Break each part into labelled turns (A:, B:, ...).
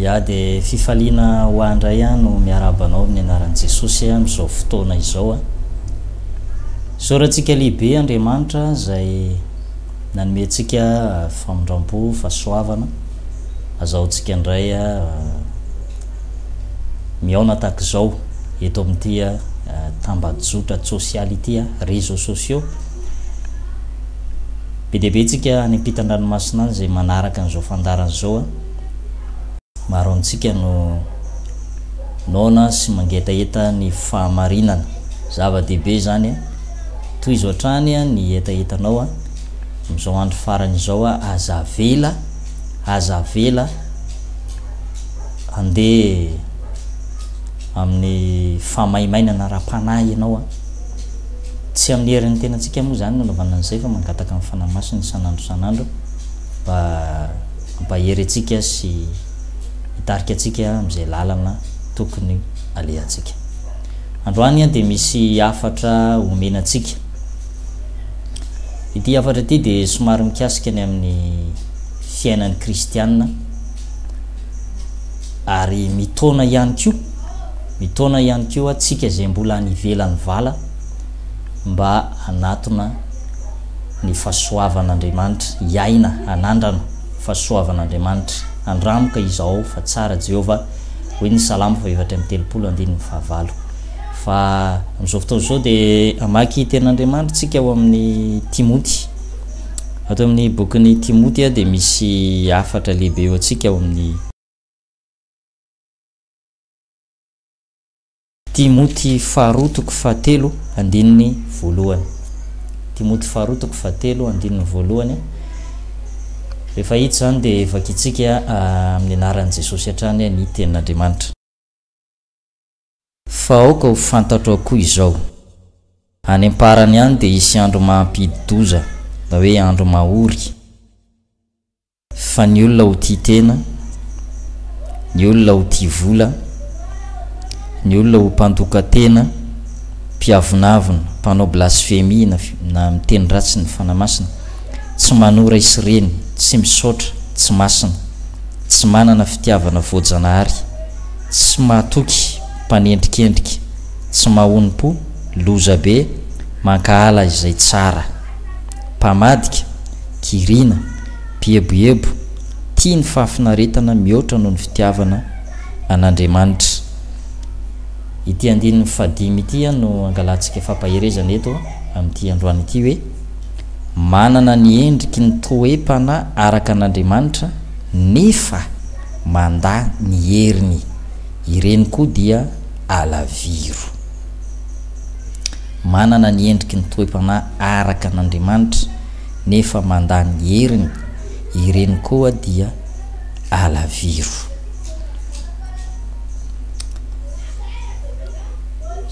A: Ya dia fifaliana ho ahy indray aho no miarahaba anao amin'ny anaran'i Jesosy amin'izao fotoana izao. Isaorantsika lehibe Andriamanitra izay Nanome antsika famindrampo, fahasoavana, azahoantsika indray mihaona tahaka izao eto amin'ity tambajotra tsosialy ity, réseaux sociaux. Be dia be antsika any ampitan-dranomasina any izay manaraka an'izao fandaharana izao. Maro amintsika no noana sy mangetaheta ny fahamarinana. Zava-dehibe izany. Tohizo hatrany ny hetahetanao a! Amin'izao andro farany izao a! Aza avela, aza avela handeha amin'ny fahamaimainana ara-panahy ianao a! Tsy amin'ny herin'ny tenantsika moa izany no anaovana an'izay fa mangataka ny Fanahy Masina isan'andro isan'andro mba hampahery antsika sy hitarika antsika amin'izay lalana tokony alehantsika. Androany dia misy hafatra omena antsika. Ity hafatra ity dia somary mikasika ny amin'ny fiainan'ny kristiana ary mitaona ihany koa mitaona ihany koa antsika izay mbola any ivelan'ny vala mba hanatona ny fahasoavan'Andriamanitra, hiaina hanandrana fahasoavan'Andriamanitra. Andramoka izaho fa tsara Jehovah. Hoy ny Salamo fahefatra amby telopolo, andininy fahavalo. Fa amin'izao fotoana izao dia hamaky tenin'Andriamanitra tsika ao amin'ny Timoty. Ato amin'ny bokin'ny Timoty dia misy hafatra lehibe eo antsika ao amin'ny Timoty faharoa toko fahatelo andininy voalohany Timoty faharoa toko fahatelo andininy voalohany Rehefa hita izany dia vakintsika amin'ny anaran'i Jesosy hatrany ny tenin'Andriamanitra. Fa aoka ho fantatro akoa izao, any am-parany any dia hisy andro mampidi-doza, na hoe andro mahory, Fa ny olona ho tia tena, ny olona ho tia vola, ny olona ho mpandoka-tena, mpiavonavona, mpanao blasfemia na na miteny ratsy ny Fanahy Masina, tsy manora isireny, tsy misaotra, tsy masina, tsy manana fitiavana voajanahary, tsy mahatoky, mpanendrikendrika, tsy mahonom-po, loza be, mankahala izay tsara, mpamadika, kiriana, mpieboebo, tia ny fahafinaretana mihoatra noho ny fitiavana an'Andriamanitra. Ity andininy fahadimy ity no angalantsika fampaherezana eto amin'ity androany ity hoe, Manana ny endriky ny toe-panahy araka an'Andriamanitra nefa mandà ny heriny, ireny koa dia alaviro. Manana ny endriky ny toe-panahy araka an'Andriamanitra. nefa mandany heriny, ireny koa dia alaviro.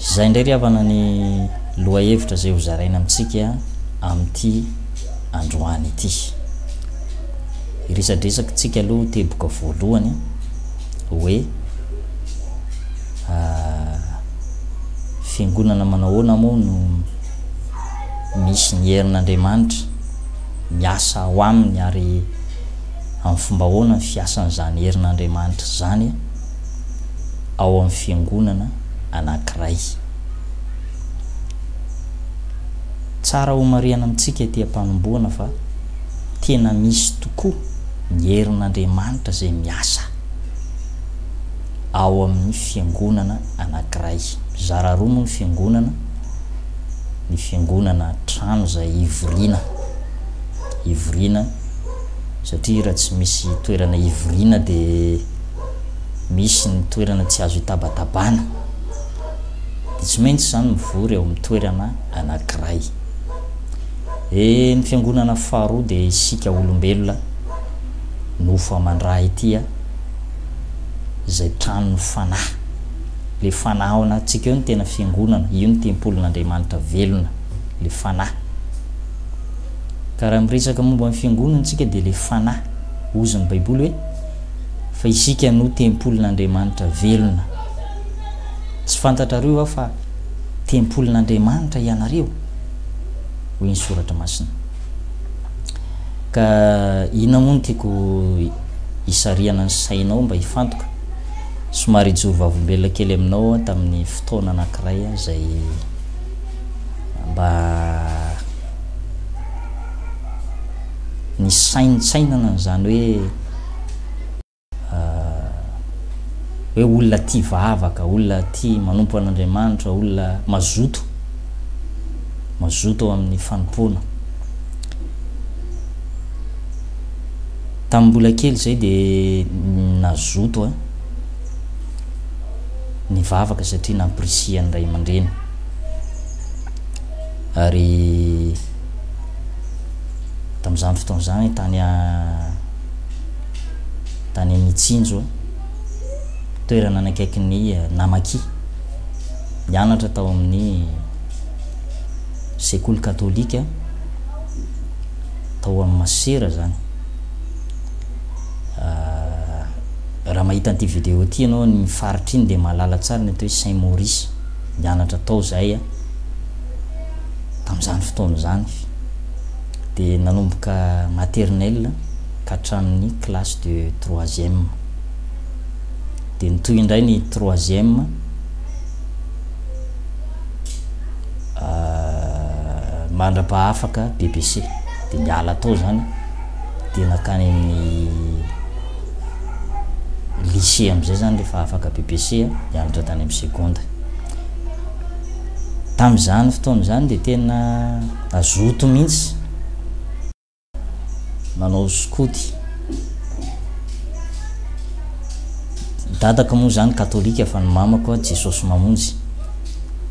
A: Izay indray ry havana ny lohahevitra izay hozaraina amintsika amin'ity androany ity. Iresadresakintsika aloha teboka voalohany hoe ah, fiangonana manao ahoana moa no misy ny herin'Andriamanitra miasa ao aminy ary amin'ny fomba ahoana ny fiasan'izany herin'Andriamanitra izany ao amin'ny fiangonana anankiray. Tsara homarihana amintsika ety am-panombohana fa tena misy tokoa ny herin'Andriamanitra izay miasa ao amin'ny fiangonana anankiray. Mizara roa moa ny fiangonana. ny fiangonana trano izay hivoriana, hivoriana satria raha tsy misy toerana hivoriana dia misy ny toerana tsy azo hitabatabana, dia tsy maintsy izany mivory eo amin'ny toerana anankiray. Eh, ny fiangonana faharoa dia isika olombelona nofo aman-dRaha ity, izay tranon'ny fanahy. Ilay Fanahy ao anatintsika eo no tena fiangonana, io no tempolin'Andriamanitra velona, ilay Fanahy. Ka raha miresaka momba ny fiangonana isika dia ilay Fanahy, hozy ny Baiboly hoe, Fa isika no tempolin'Andriamanitra velona. Tsy fantatrareo va fa tempolin'Andriamanitra ianareo? hoy ny Soratra Masina. Ka inona moa no tiako hisarihana ny sainao mba hifantoka? somary hijoro vavolombelona kely aminao aho tamin'ny fotoana anankiray izay mba nisaintsainana an'izany hoe hoe olona tia vavaka, olona tia manompo an'Andriamanitra, olona mazoto, mazoto ao amin'ny fanompoana. Tamin'ny mbola kely izay dia nazoto aho nivavaka satria nampirisihan'ny ray aman-dreny ary tamin'izany fotoana izany tany tany amin'ny Tsinjo toerana nanakaikin'ny Namaki nianatra tao amin'ny sekoly katolika tao amin'ny masera zany raha mahita an'ity vidéo ity ianao an'iny faritra iny dia mahalala tsara ny atao hoe Saint Maurice nianatra tao zahay a tamin'izany fotoana izany dia nanomboka maternelle ka hatramin'ny classe de troisième dia nitohy indray ny troisième mandra-pahafaka bbc de niala tao zany de nakany amin'ny lycée amizay zany rehefa afaka bbc nianatra tany amin'ny seconde tamizany fotoana zany de tena nazoto mihitsy manao skoty dadako moa zany katolika fa ny mamako a jesosy mamonjy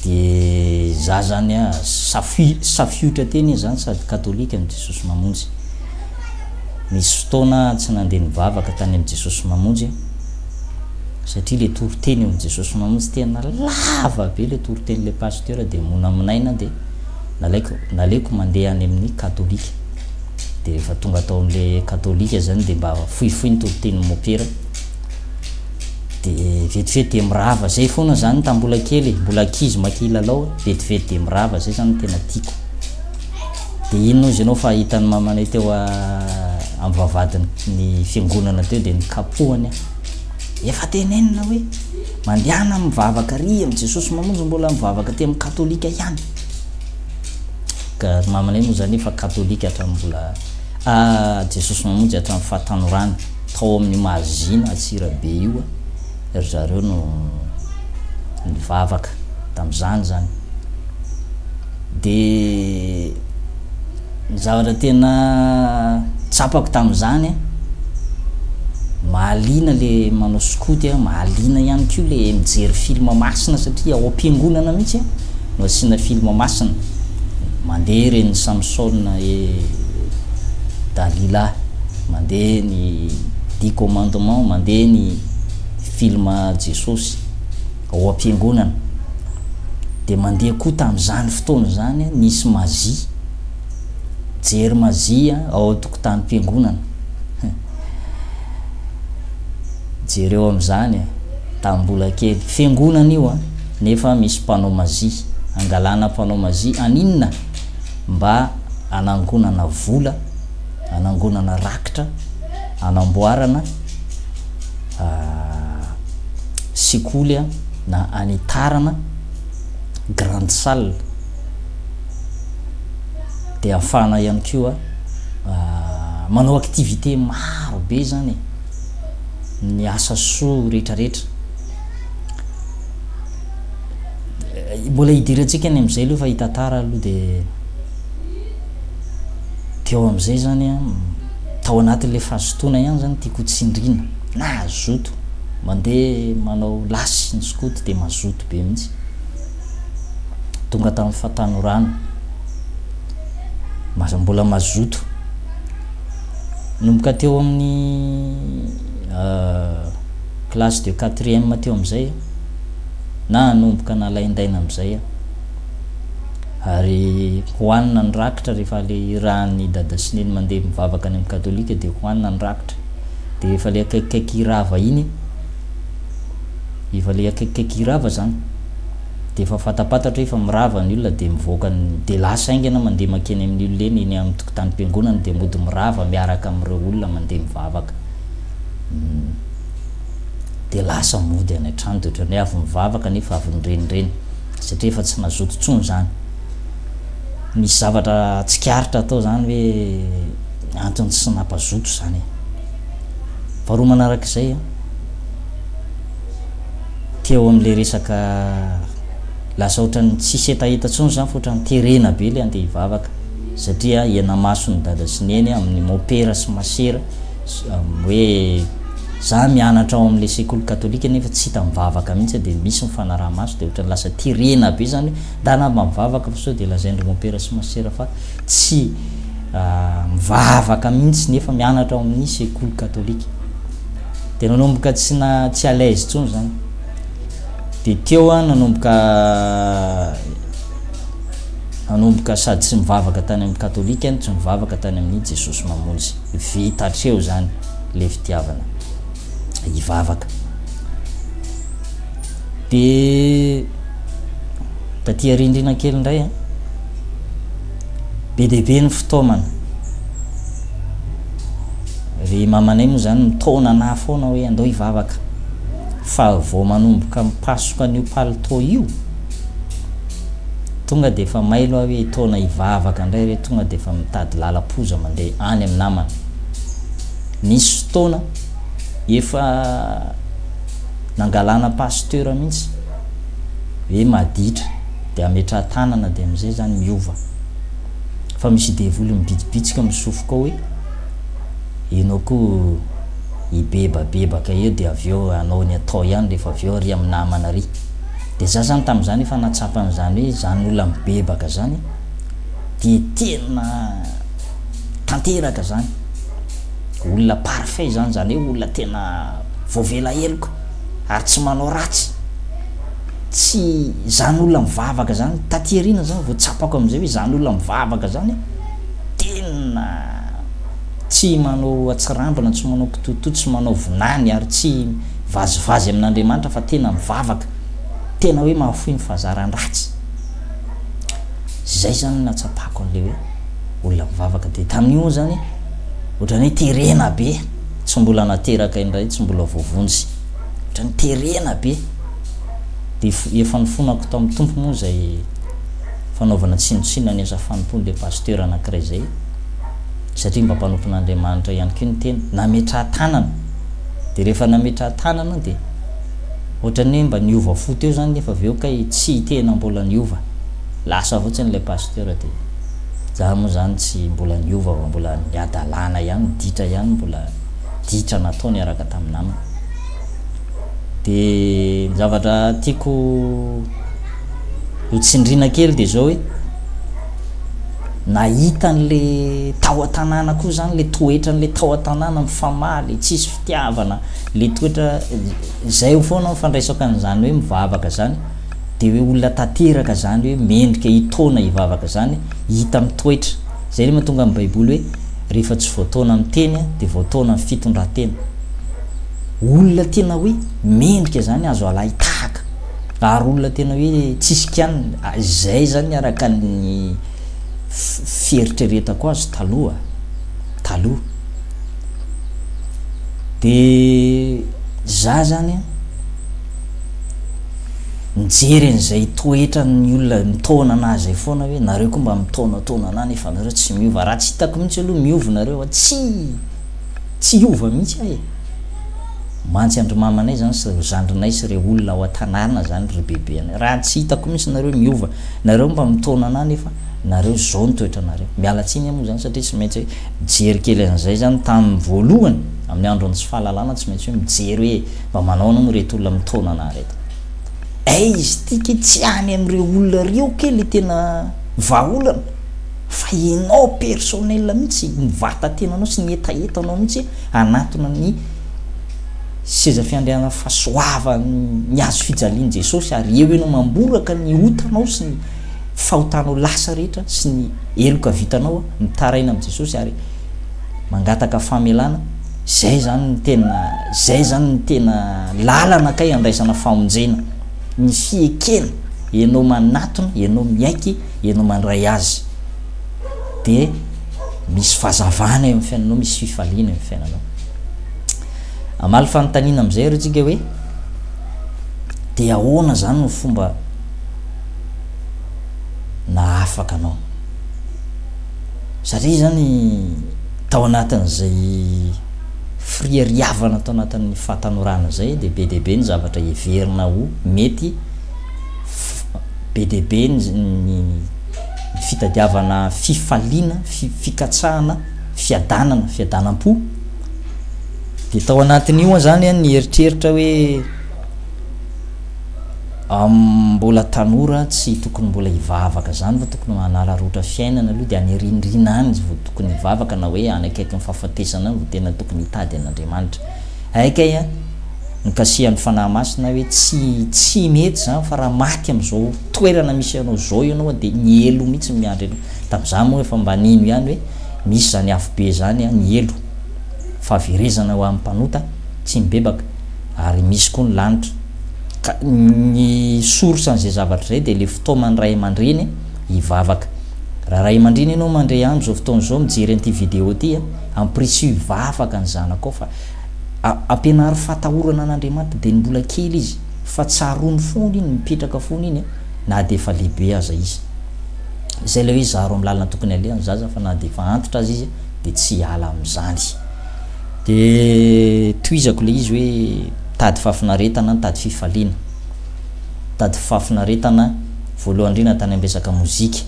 A: de za zany a safi- safiotra teny izy zany sady katolika ny jesosy mamonjy nisy fotoana a tsy nandeha nivavaka tany amin'ny jesosy mamonjy a satria le toriteny eo amin'ny jesosy mamonjy tena lava be le toriteny le pasteur de monamonaina de Nalaiko naleoko mandeha any amin'ny katolika dia rehefa tonga tao amin'le katolika izany dia mba fohifohy ny toritenin'ny mopera dia vetivety dia mirava izay foana izany tamin'ny mbola kely e, mbola ankizy maika hilalao e, vetivety dia mirava izay izany no tena tiako dia inona ozy ianao fa hitan'ny mamanay teo amin'ny vavahadin'ny fiangonana teo dia nikapohany aho efa tenenina hoe mandehana mivavaka ary amin'i Jesosy mamonjy mbola mivavaka aty amin'ny katolika ihany Ka ry mamanay moa zany efa katolika hatramin'ny mbola a Jesosy Mamonjy hatramin'ny fahatanorany tao amin'ny Mahazina Antsirabe io a ry zareo no nivavaka tamin'izany zany de Ny zavatra tena tsapako tamin'izany a, mahaliana le manao skoty a, mahaliana ihany koa le mijery film masina satria ao am-piangonana mihitsy a no asiana film masina, mandeha ireny Samsona et Dalila, mandeha ny dix commandements, mandeha ny film Jesosy. Ao am-piangonana, dia mandeha koa tamin'izany fotoana izany, nisy mazia, jery mazia ao an-tokotanim-piangonana. Jereo amin'izany e, tamin'ny mbola kely. Fiangonana io an, nefa misy mpanao mazia. Angalana mpanao mazia haninona? Mba hanangonana vola, hanangonana rakitra, hanamboarana. sekoly a na any tarana grande salle de afahana ihany koa manao activité maro be zany ny asa soa rehetrarehetra mbola hidirantsika any am'izay aloha fa hitantara aloha de Teo amin'izay izany an, tao anatin'ilay fahazotoana ihany izany tiako ho tsindriana, na hazoto, mandeha manao lasy ny skoto dia mazoto be mihitsy. Tonga tamin'ny fahatanorana, maza mbola mazoto. Nomboka teo amin'ny euh, classe de quatrième teo amin'izay, na hanomboka nalaindaina amin'izay aho. Ary hohanina ny rakitra rehefa le irahan'ny dada sy neny mandeha mivavaka any amin'ny katolika dia hohanina ny rakitra. Dia efa le akaikikaiky hirava iny, efa le akaikikaiky hirava zany, dia efa fantampantatra hoe efa mirava ny olona dia mivoaka ny, dia lasa haingana mandeha mankeny amin'ny olona eny, eny amin'ny tokotanim-piangonana dia mody mirava miaraka amin'ireo olona mandeha mivavaka. Dia lasa mody any an-trano dia ohatran'ny hoe avy mivavaka nefa avy nirenireny. satria efa tsy nazoto tsony izany. Misy zavatra tsikaritra atao izany hoe antony tsy nampazoto izany e. Faharoa manaraka izay a, teo amin'ilay resaka lasa ohatran'ny tsisy hetaheta tsony izany fa ohatran'ny terena be ilay andeha hivavaka satria hiana-mason'ny dada sy neny amin'ny mopera sy masera hoe za mianatra ao amle sekoly katolika nefa tsy hita mivavaka mihitsy de misy mifanaraha maso de otrany lasa terena be zany hoe ndanamba mivavaka fa sao de lazaindry mompera sy masera fa tsy mivavaka mihitsy nefa mianatra ao amin'ny sekoly katolika de nanomboka tsy na tsy alaise tsony zany de teo a nanomboka nanomboka sady tsy mivavaka tany amin'ny katolika no tsy mivavaka tany amin'ny jesosy mamonjy Vita hatreo zany le fitiavana hivavaka. De taty arindrina kely indray a, be dia be ny fitaomana. Ry mamanay moa zany mitaona anah foana hoe andao hivavaka, fa vao manomboka mipasoka an'io palitao io, Tonga dia efa mailo aho hoe hitaona hivavaka indray re, tonga dia efa mitady lalam-poza mandeha any amin'ny namana. Nisy fotoana efa nangalana pasteur mihitsy hoe maditra dia ametrahan-tanana dia amin'izay izany miova. Fa misy devoly mibitsibitsika misofoka ao hoe ianao koa hibebabebaka eo dia avy eo hanao ny atao ihany rehefa avy eo ry amin'ny namana ry. Dia za zany tamin'izany efa nahatsapa an'izany hoe izany olona mibebaka izany dia tena tanteraka izany, olona parfait izany, izany hoe olona tena voavela heloka ary tsy manao ratsy, tsy izany olona mivavaka izany, taty aoriana izany vao tsapako amin'izay hoe izany olona mivavaka izany tena tsy manao atsirambina, tsy manao kitotoa, tsy manao vinany ary tsy Vazivazy amin'Andriamanitra fa tena mivavaka, tena hoe mahafoy ny fahazaran-dratsy. Izay izany no nahatsapako an'ilay hoe olona mivavaka dia tamin'io moa izany ohatran'ny hoe terena be, tsy mbola nateraka indray, tsy mbola voavonjy, ohatran'ny terena be. Dia efa nifonako tao amin'ny Tompo moa izay fanaovana tsinontsinona ny asa fanompoan'ilay pasteur anankiray izay, satria mba mpanompon'Andriamanitra ihany koa ny tena, nametraha-tanana. de rehefa nametraha tanana de ohatrany hoe mba niova fo teo zany nefa avy eo kay tsy tena mbola niova lasa fotsiny ilay pasteur de za moa zany tsy mbola niova fa mbola ny hadalana ihany ditra ihany mbola ditra natao niaraka tamin'ny namana de ny zavatra tiako ho tsindrina kely de zao hoe Nahita an'le tao an-tanàna koa zany le toetran'le tao an-tanàna mifamaha le tsisy fitiavana le toetra zay ho foana mifandraisaka an'izany hoe mivavaka zany de hoe olona tanteraka zany hoe mendrika hitaona hivavaka zany hita amin'ny toetra zay le mahatonga amin'ny baiboly hoe rehefa tsy voataona amin'ny teny de voataona amin'ny fitondran-tena olona tena hoe mendrika zany azo alahy tahaka ary olona tena hoe tsisy kianina, izay zany araka ny fieritreretako azy taloha taloha, de za zany an mijery an'izay toetran'ny olona mitaona anah zay foana hoe nareo koa mba mitaonataona anah nefa nareo tsy miova, raha tsy hitako mihitsy aloha miova nareo an tsy Tsy hiova mihitsy aho e! Mantsy an-dry mamanay zany sy reo zandrinay sy reo olona ao an-tanàna zany ry bebe anay. Raha tsy hitako mihitsy nareo miova. Nareo mba mitaona anah nefa nareo zao ny toetranareo. Miala tsiny aho moa zany satria tsy maintsy mijery kely an'izay zany tamin'ny voalohany amin'ny andron'ny tsy fahalalana tsy maintsy hoe mijery hoe mba manao anao moa reto olona mitaona anah reto. Aiz ty ke tsy any amin'ireo olona reo ke le tena vahaolana. Fa ianao personnel mihitsy, ny vatatenanao sy ny hetahetanao mihitsy hanatona ny seza fiandrianan'ny fahasoavan'ny hazo fijalian'i Jesosy ary eo ianao mamboraka ny otanao sy ny fahotanao lasa rehetra sy ny heloka vitanao mitaraina amin'i Jesosy ary mangataka famelana, izay zany ny tena izay zany ny tena lalana kay andraisana famonjena, ny fiekena, ianao manatona, ianao miaiky. ianao mandray azy dia misy fazavana eo amin'ny fiainanao, misy fifaliana eo amin'ny fiainanao. Amaly fanontaniana amin'izay ary tsika hoe dia ahoana zany no fomba nahafaka anao? Satria zany tao anatin'izay firiariavana tao anatin'ny fahatanorana izay dia be dia be ny zavatra heverina ho mety be dia be ny fitadiavana fifaliana, fikatsahana, fiadanana, fiadanam-po. Dia tao anatin'io zany an, nieritreritra hoe mbola tanora tsy tokony mbola hivavaka zany fa tokony manararaotra fiainana aloha dia any arinirina any vao tokony hivavaka na hoe any akaikin'ny fahafatesana any vao tena tokony hitady an'Andriamanitra. Hay kay a! Nikasihan'ny Fanahy Masina aho hoe tsy tsy mety izany fa raha maty amin'izao toerana misy anao izao ianao dia ny helo mihitsy no miandry anao. Tamin'izaho moa efa mba nino ihany hoe misy izany afobe izany a, ny helo. Fahaverezana ho an'ny mpanota tsy mibebaka ary misy koa ny lanitra. Ka ny source an'izay zavatra izay dia ilay fitaoman'ny ray aman-dreny hivavaka. Raha ray aman-dreny ianao mandre andro izao fotoana izao mijery an'ity vidéo ity a! Ampirisiho hivavaka ny zanakao fa ampianaro fahatahorana an'Andriamanitra dia ny mbola kely izy fa tsaroany foana iny mipetraka foana iny na dia efa lehibe aza izy. Izay ilay hoe zaro amin'ny lalana tokony haleha ny zaza fa na dia efa antitra aza izy dia tsy hiala amin'izany. Dia tohizako ilay izy hoe mitady fahafinaretana, mitady fifaliana, mitady fahafinaretana voalohany indrindra tany amin'ny resaka mozika.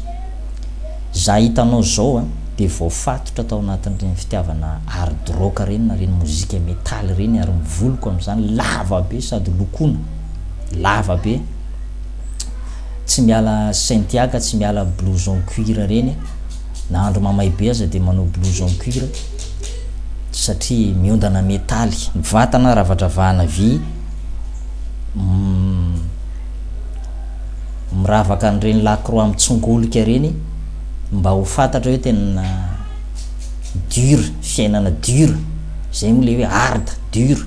A: Za hitanao zao a de voafatotra tao anatin'ireny fitiavana hard rock ireny na ireny mozika metal ireny ary ny voloko amin'izany lava be sady lokoina lava be tsy miala Cynthia ka tsy miala blouson cuir ireny na andro mamay be aza de manao blouson cuir satria miondana metaly ny vatana ravadravahana vy mm, miravaka an'ireny lakroa mitsongolika ireny mba ho fantatra hoe tena dur fiainana dur zay moa le hoe hard dur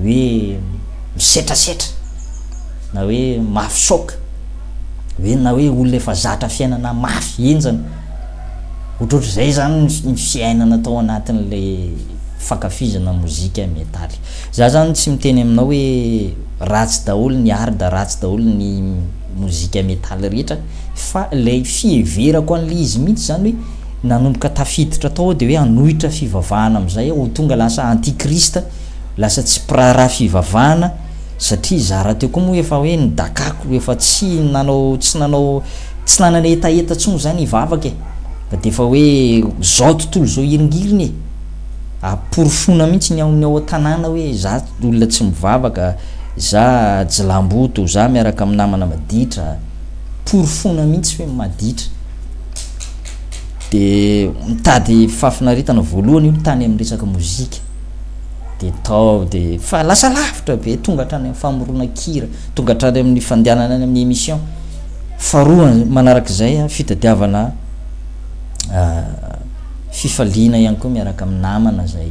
A: hoe misetrasetra na hoe mafy choc hoe na hoe olona efa zatra fiainana mafy henjana ohatrohatr'izay zany ny fiainana tao anatin'ilay fankafizana mozika metaly Za zany tsy miteny aminao hoe ratsy daholo ny art ratsy daholo ny mozika metal rehetra fa ilay fiheverako an'ilay izy mihitsy zany hoe nanomboka tafiditra tao aho de hoe hanohitra fivavahana amin'izay aho ho tonga lasa anti christ lasa tsy mpiraharaha fivavahana satria za rahateo koa moa efa hoe nidakako efa tsy nanao tsy nanao tsy nanana hetaheta tsony za nivavaka e fa de efa hoe zao tontolo zao hiringiriny e aporofoina mihitsy ny ao amin'ny ao an-tanàna hoe za olona tsy mivavaka, za jilamboto, za miaraka amin'ny namana maditra, porofoina mihitsy hoe maditra. Dia mitady fahafinaretana voalohany io tany amin'ny resaka mozika. Dia tao dia fa lasa lavitra be, tonga hatrany amin'ny famoronan-kira, tonga hatrany amin'ny fandehanana any amin'ny émission. Faharoa manarak'izay fitadiavana Fifaliana ihany koa miaraka amin'ny namana izay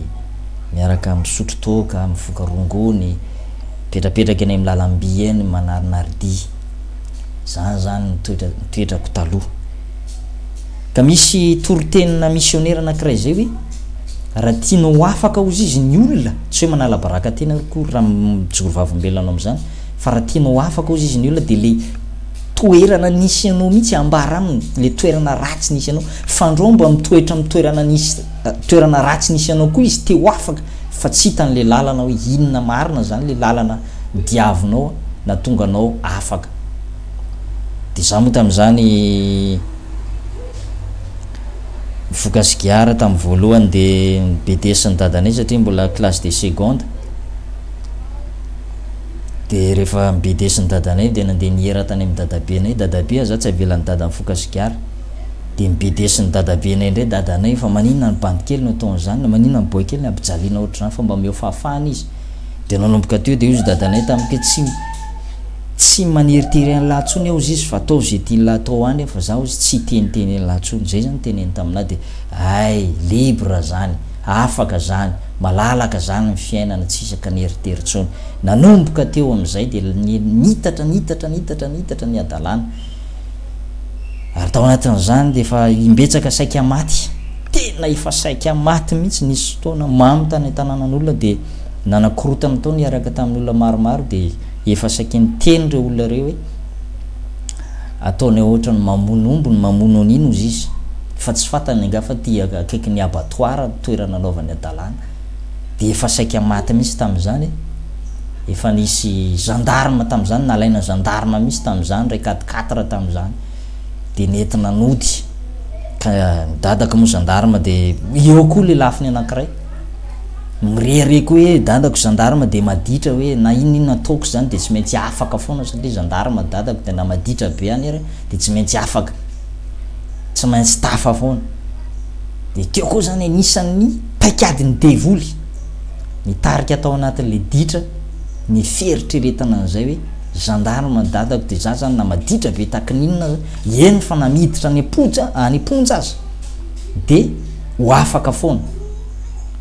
A: miaraka misotro toaka, mivoaka rongony, mipetrapetraka eny amin'ny lalam-by eny manarinaridia. Izany izany ny toetra, ny toetrako taloha. Ka misy toriteninà misionera anankiray izay hoe, Raha tianao ho afaka hozy izy ny olona, tsy hoe manala baraka tena akory raha mijoro vavolombelona anao amin'izany, fa raha tianao ho afaka hozy izy ny olona dia ilay toerana nisy anao mihitsy ambara aminy, ilay toerana ratsy nisy anao. Fandro mba mitoetra amin'ny toerana nisy toerana ratsy nisy anao koa izy te ho afaka fa tsy hitany le lalana hoe inona marina zany le lalana diavinao na tonga anao afaka de za moa tamzany nifoka sigara tam voalohany de ny BDS ny dadanay satria mbola classe de seconde de refa ny BDS ny dadanay de nande nihera tany am dadabenay dadabe ah za tsy avelany dada mifoka sigara de ny bedesin'ny dadabenay ndray dadanay fa maninona ny bandy kely no ataony zany na maninona ny boy kely no ampijaliana ohatr'izany fa mba omeo fahafahana izy de nanomboka teo de hozy dadanay tamiko hoe tsy tsy maneritery an'lah tsony aho hozy izy fa ataovy ze tian'lah atao any aho fa za hozy tsy hiteniteny an'lah tsony zay zany teneny taminah de ay libre zany afaka zany malalaka zany ny fiainana tsy isaka neritery tsony nanomboka teo amizay de niitatra niitatra niitatra niitatra ny hadalana ary tao anatin'izany dia efa imbetsaka saika maty tena efa saika maty mihitsy nisy fotoana mamy tany an-tanànan'olona dia nanakorotana tao niaraka tamin'ny olona maromaro dia efa saika niteny ireo olona ireo hoe ataony ohatra ny mamono omby ny mamono an'ino izy izy fa tsy fantany angaha fa ty akaiky ny abattoir toerana anaovany adalàna dia efa saika maty mihitsy tamin'izany, efa nisy gendarme tamin'izany, nalaina gendarme mihitsy tamin'izany ilay quatre quatre tamin'izany, dia nentina nody, ka ny dadako moa gendarme dia eo koa lelafiny anankiray, mirehareha koa hoe dadako gendarme dia maditra hoe na inona inona ataoko izany dia tsy maintsy afaka foana satria gendarme dadako dia na maditra be any ary dia tsy maintsy afaka, tsy maintsy tafa foana. Dia teo koa izany anisan'ny paikadin'ny devoly nitarika tao anatin'ilay ditra ny fieritreretana an'izay hoe gendarme dadako dia za zany na maditra be taky ny inona eny fa na miditra any am-ponja any am-ponja aza dia ho afaka foana.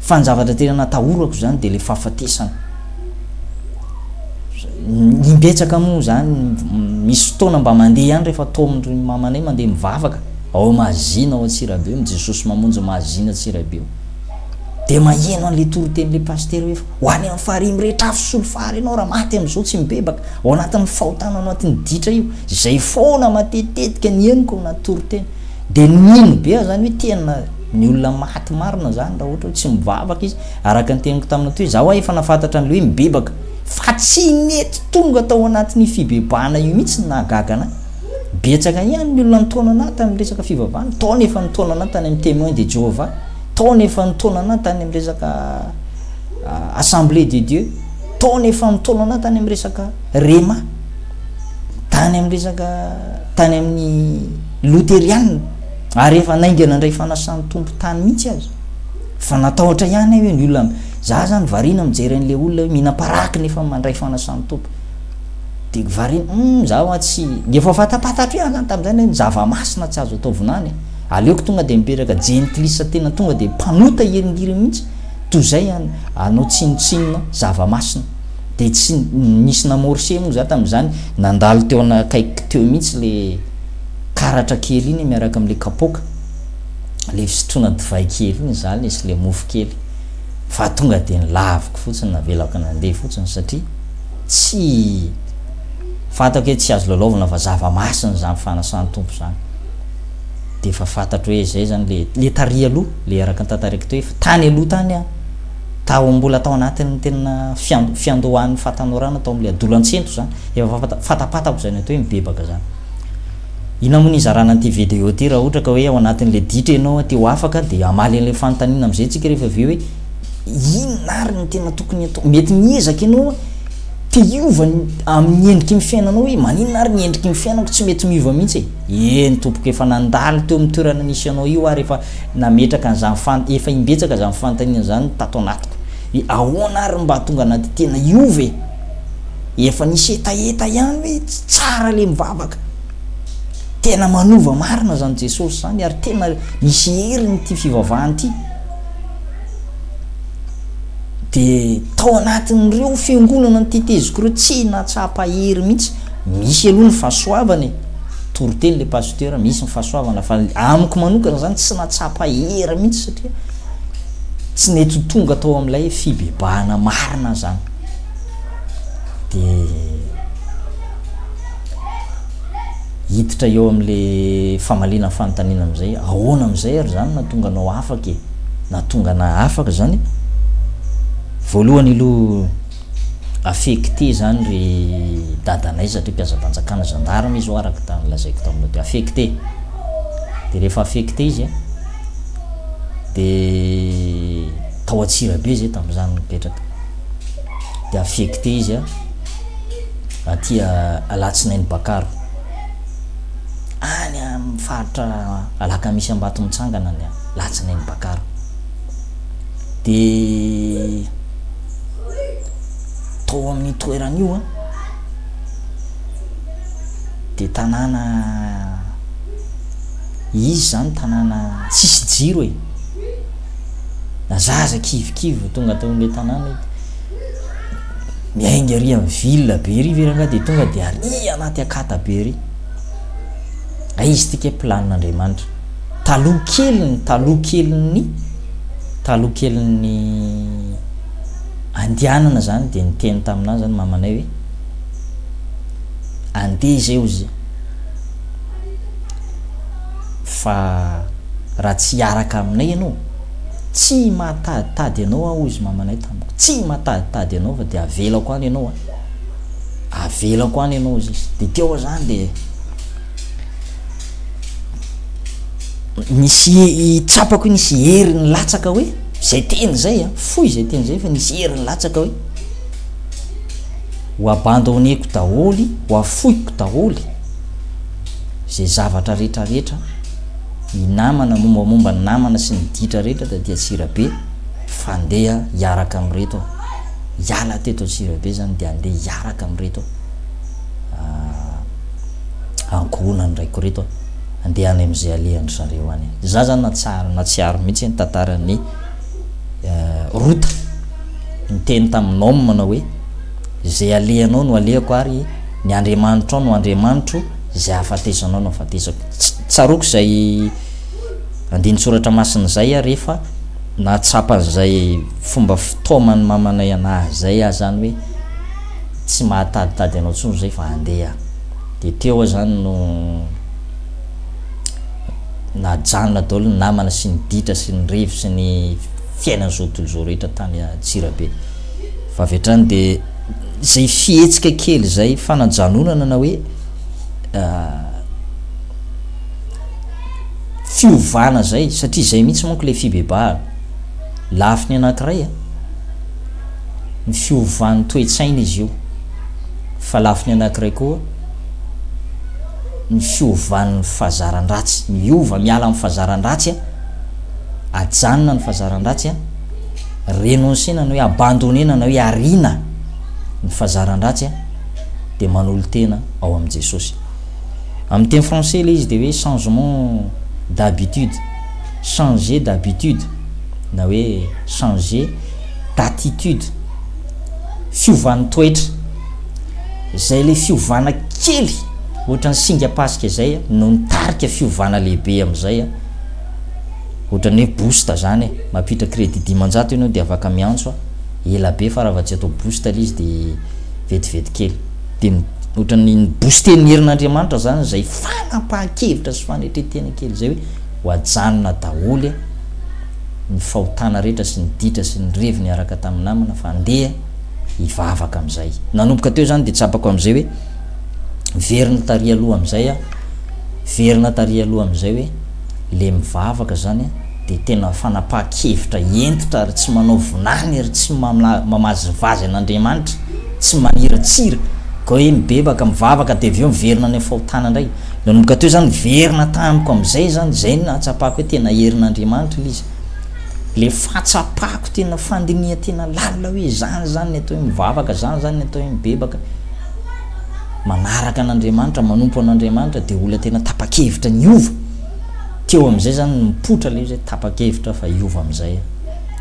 A: Fa ny zavatra tena natahorako izany dia ilay fahafatesana. Imbetsaka moa izany, misy fotoana mba mandeha ihany rehefa taomin'ny mamanay mandeha mivavaka ao Mazina ao Antsirabe eo, Jesosy mamonjy Mazina Antsirabe eo. Dia maheno an'ilay toriten'ilay pasitera hoe ho any amin'ny farihy mirehitra afo solo fary ianao raha maty amin'izao tsy mibebaka ao anatin'ny fahotana ao anatin'ny ditra io. Izay foana matetitetika ny henoko na toriteny. Dia nino be aho izany hoe tena ny olona maty marina izany raha ohatra hoe tsy mivavaka izy. Araka ny teniko tamina toy za wa efa nafantatra anle hoe mibebaka fa tsy nety tonga tao anatin'io fibebahana io mihitsy ny nahagaga anay. Betsaka ihany ny olona nitaona anah tamin'ny resaka fivavahana, nitaona efa nitaona anah tany amin'ny Temoins de Jehovah, nitaona efa nitaona anah tany amin'ny resaka Assemblée de Dieu, nitaona efa nitaona anah tany amin'ny resaka Rhema, tany amin'ny resaka tany amin'ny Loteriana ary efa naingana indray fanasan'ny Tompo tany mihitsy aza. Fa natahotra ihany aho hoe ny olona, za zany variana mijery an'le olona hoe mihinam-paraky nefa mandray fanasan'ny Tompo. Dia variana, hum, za hoa tsy, dia efa fantapatatro ihany zany tamin'izay hoe ny zava-masina tsy azo atao vinany e. Aleoko tonga dia mipetraka jentilisa tena tonga dia mpanota iringiry mihitsy, toy izay hanao tsinontsinona zava-masina. Dia tsy nisy namorse moa za tamin'izany, nandalo teo akaikiko teo mihitsy le karatra kely iny miaraka amin'le kapoaka. le fisotroana divay kely iny za le sy le mofo kely fa tonga de ny laviko fotsiny navelako nandeha fotsiny satria tsy fantako hoe tsy azo lalaovina fa zava-masiny zany fanasan'ny tompo zany de efa fantatro hoe zay zany le le tary aloha le araka ny tantariko teo efa tany aloha tany a tao mbola tao anatin'ny tena fiandohan'ny fatanorana tao am'le adolantsento zany efa fatapatako zany atao hoe mibebaka zany Inona moa ny hizarana an'ity video ity raha ohatra ka hoe ao anatin'ilay ditra ianao te ho afaka dia hamaly an'ilay fanontaniana amin'izay isika rehefa avy eo hoe inona ary ny tena tokony atao? Mety miezaka ianao te hiova amin'ny endriky ny fiainanao hoe maninona ary ny endriky ny fiainako tsy mety miova mihitsy e? Eny tompoko efa nandalo teo amin'ny toerana nisy anao io ary efa nametraka an'izany fan efa imbetsaka izany fanontaniana izany tato anatiko hoe ahoana ary mba hahatonga anah dia tena hiova e? Efa nisy hetaheta ihany hoe tsy tsara le mivavaka. Tena manova marina zany Jesosy zany ary tena misy heriny ity fivavahana ity. De tao anatin'ireo fiangonana ny teteziko ireo tsy nahatsapa hery mihitsy. Misy aloha ny fahasoavana e. Toriteny le pasteur misy ny fahasoavana fa amiko manokana zany tsy nahatsapa hery mihitsy satria tsy nety ho tonga tao amin'ilay fibebahana marina zany. dia hiditra eo amin'ilay famaliana ny fanontaniana amin'izay, ahoana amin'izay ary izany nahatonga anao afaka e? Nahatonga anà afaka izany? Voalohany aloha affecté izany ry dadanay satria mpiasam-panjakana, gendarme izy ho'a araka tany lazaiko taminao teo, affecté. Dia rehefa affecté izy an, dia tao Antsirabe izay tamin'izany nipetraka. dia affecté izy a aty Alatsinainy Bakaro any amin'ny faritra Alakamisy Ambatomitsangana ny Alatsinainy Bakaro dia tao amin'ny toeran'io a dia tanàna izy zany tanàna tsisy jiro e na zaza kivikivy vao tonga tao amin'ilay tanàna ito miainga ry amin'ny ville be ry ve rangaha dia tonga dia ary anaty akata be ry a izy tika planin'andriamanitra taloha keliny taloha keliny taloha keliny andianana zany dia niteny taminah zany mamanay hoe andeha izay ozy Fa raha tsy hiaraka aminay ianao, tsy mahataditady anao aho, hoy izy mamanay tamiko. Tsy mahataditady anao fa dia avelako any ianao a! Avelako any ianao, hoy izy. Dia teo izany dia nisy tsapako hoe nisy hery nilatsaka hoe izay teny izay a, fohy izay teny izay fa nisy hery nilatsaka hoe ho abandonneko daholo, ho afoiko daholo. izay zavatra rehetra rehetra ny namana mombamomba ny namana sy ny ditra rehetra dia dia tsirabe fandeha hiaraka amin'ireto hiala teto tsirabe zany dia andeha hiaraka amin'ireto ah, ankohonany raiko reto andeha any amin'izay alehan'ny zareo any dia za zany natsary natsiaro mihitsy ny tantaran'ny eh, rota niteny tamin'ny noma manao hoe Izay alehanao no alehako ary ny Andriamanitrao no Andriamanitro, izay ahafatesana no ahafatesako. Tsaroako izay andinin-tsoratra masina izay ary efa nahatsapa an'izay fomba fitaoman'ny mamanay an'ahy izay aho izany hoe tsy mahataditady anao intsony izay fa andeha aho. Dia teo aho izany no najanona daholo ny namana sy ny ditra sy ny revy sy ny fiainan'izao tontolo izao rehetra tany Antsirabe. Fa avy hatrany dia izay fihetsika kely izay fanajanonana na hoe fiovana izay satria izay mihitsy manko ilay fibebahana. Lafiny anankiray a. Ny fiovan'ny toe-tsaina izy io. Fa lafiny anankiray koa ny fiovan'ny fazaran-dratsy. Miova miala amin'ny fazaran-dratsy a. ajanona ny fazaran-dratsy a, renoncer-na na hoe abandonner-na na hoe ariana ny fazaran-dratsy a, dia manolo-tena ao amin'i Jesosy. Amin'ny teny français ilay izy dia hoe changement d'habitude, changer d'habitude na hoe changer d'attitude, fiovan'ny toetra. Izay ilay fiovana kely ohatran'ny singam-pasika izay no nitarika fiovana lehibe amin'izay a. Otrany hoe boost zany e, mampiditra credit dimanjato enao de afaka miantso a, ela be fa raha va tsy atao boost le izy de vetivety kely. De ny otrany ny booster ny herin'Andriamanitra zany zay fanapahan-kevitra sy fanetren-tena kely zay hoe ho ajanona daholo e ny fahotana rehetra sy ny ditra sy ny revy niaraka tamin'ny namana fa andeha hivavaka amizay. Nanomboka teo zany de tsapako amizay hoe verina tary aloha amizay a, verina tary aloha amizay hoe. le mivavaka zany a de tena fanapahan-kevitra hentitra ary tsy manao vinany ary tsy mamazivazy an'Andriamanitra, tsy maniratsira ka hoe mibebaka mivavaka de avy eo miverina any amin'ny fahotana indray, nanomboka teo zany niverina tamiko amin'izay zany, zay no nahatsapako hoe tena herin'Andriamanitra le izy, le fahatsapako tena fandinihan-tena lalina hoe zany zany ny atao hoe mivavaka, zany zany ny atao hoe mibebaka. manaraka an'Andriamanitra, manompo an'Andriamanitra dia olona tena tapa-kevitra ny hiova. Teo amin'izay izany nipoitra ilay izy hoe tapa-kevitra aho fa hiova amin'izay aho.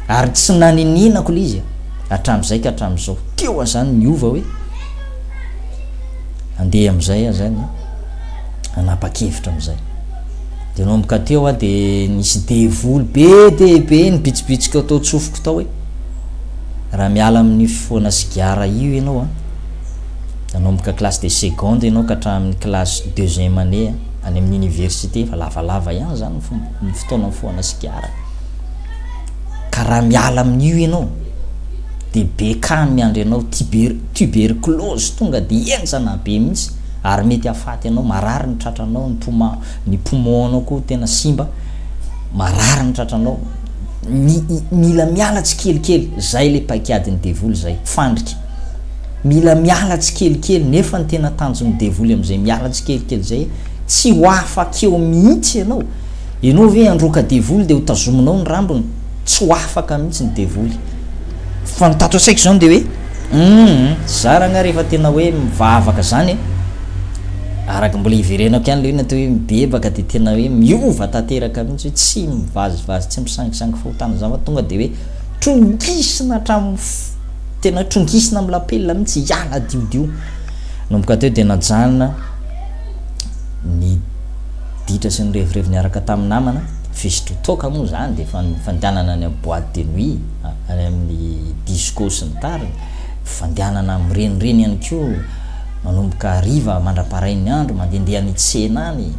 A: Ary tsy naninianako ilay izy hatramin'izay ka hatramin'izao. Teo aho izany niova hoe handeha amin'izay aho izany hanapa-kevitra amin'izay. Dia nanomboka teo aho dia nisy devoly be dia be nibitsibitsika tao an-tsofiko tao hoe raha miala amin'ny fifohana sigara io ianao a, Nanomboka classe de seconde ianao ka hatramin'ny classe deuxième année any amin'ny université fa lavalava ihany izany ny fotoana mifohana sigara. Ka raha miala amin'io ianao dia be cas miandry anao tuber, tuberculose tonga dia henjana be mihitsy ary mety hafaty anao, marary ny tratranao, ny poumon, ny poumon anao koa tena simba, marary ny tratranao. Mila miala tsikelikely, zay le paikadin'ny devoly zay, fandrika. Mila miala tsikelikely, nefa ny tena tanjon'ny devoly amin'izay miala tsikelikely izay, tsy ho afaka eo mihitsy ianao. Ianao ve handroaka devoly dia hotazominao ny rambony? Tsy ho afaka mihitsy ny devoly. Fa ny tato an-tsaiko izany dia hoe, hum, zara angaha rehefa tena hoe mivavaka izany e? Araka mbola iverenako ihany ilay hoe ny atao hoe mibebaka dia tena hoe miova tanteraka mihitsy hoe tsy mivazivazy, tsy misangisangy fahotana izany fa tonga dia hoe trongisina hatramin'ny fo. Tena trongisina amin'ny lapelina mihitsy hiala adiodio. Nanomboka teo dia najanona ny ditra sy ny revirevy niaraka tamin'ny namana. Fisotroa toaka moa izany dia efa nifandianana any amin'ny boite de nuit, any amin'ny disco sy ny tariny. Fandianana mirenireny ihany koa manomboka hariva mandra-parain'ny andro, mandehandeha any tsena any.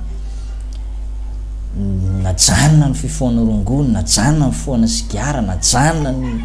A: Najanona ny fifohana rongony, najanona ny fifohana sigara, najanona ny.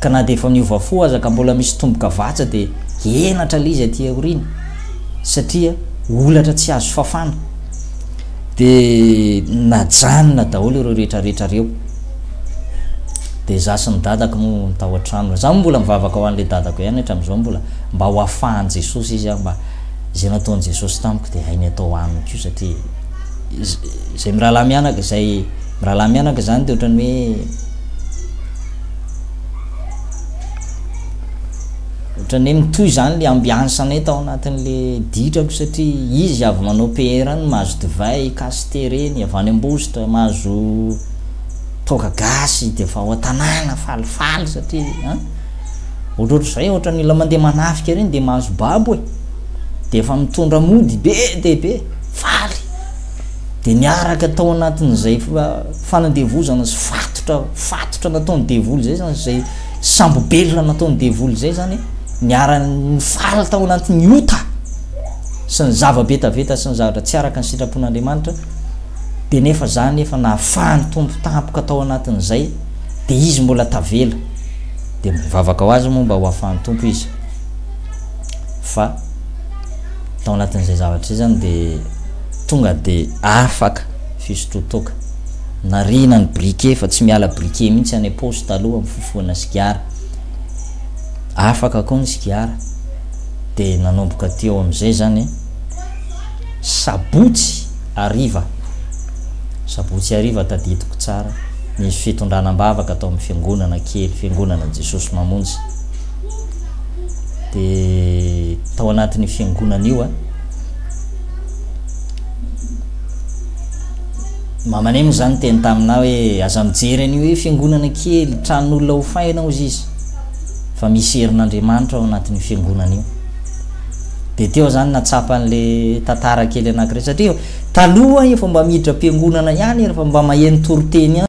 A: ka na dia efa niova fo aza ka mbola misy tomboka vatsa dia henatra ilay izy aty aoriana satria olatra tsy azo fafana dia najanona daholo ireo rehetra rehetra ireo dia za sy ny dadako moa ny tao an-trano za moa mbola mivavaka ho an'ilay dadako ihany hatramin'izao mbola mba ho afahan'i Jesosy izy aho mba izay nataon'i Jesosy tamiko dia hainy atao aminy koa satria izay mirahalahy mianaka izay mirahalahy mianaka izany dia ohatran'ny hoe Ohatran'ny hoe mitohy izany ilay ambiance-nay tao anatin'ilay ditrako satria izy avy manao PR any mahazo divay, cassete reny, avy any Ambositra mahazo toaka gasy dia efa ao an-tanàna falifaly satria an ohatrohatr'izay ohatran'ny olona mandeha manafika ireny dia mahazo babo e dia efa mitondra mody be dia be faly dia niaraka tao anatin'izay fanandevozana sy fatotra fatotra nataony devoly zay zany zay sambo belona nataony devoly zay zany niarany faly tao anatin'ny ota sy ny zava-betaveta sy ny zavatra tsy araka ny sitrapon'Andriamanitra de nefa zany efa nahafahany tompo tampoka tao anatin'izay de izy mbola tavela de mivavaka ho azy moa mba ho afahan'ny tompo izy fa tao anatin'izay zavatra izay zany de tonga de afaka Fisotroa toaka. Nariana ny briquet fa tsy miala briquet mihitsy any am-paosy taloha mifofohana sigara. Afaka koa ny sigara. Dia nanomboka teo amin'izay izany sabotsy hariva, sabotsy hariva tadidiko tsara, nisy fitondrana am-bavaka tao amin'ny fiangonana kely, Fiangonanan'i Jesosy Mamonjy. Dia tao anatin'io fiangonana io, Mamanay moa zany teny taminah hoe aza mijery an'io hoe fiangonana kely, tranon'olona hofaina ao ziz, fa misy herin'Andriamanitra ao anatin'io fiangonana io. Dia teo zany natsapa an'le tantara kely anankiray satria taloha efa mba miditra am-piangonana ihany ery fa mba maheno toriteny ihany.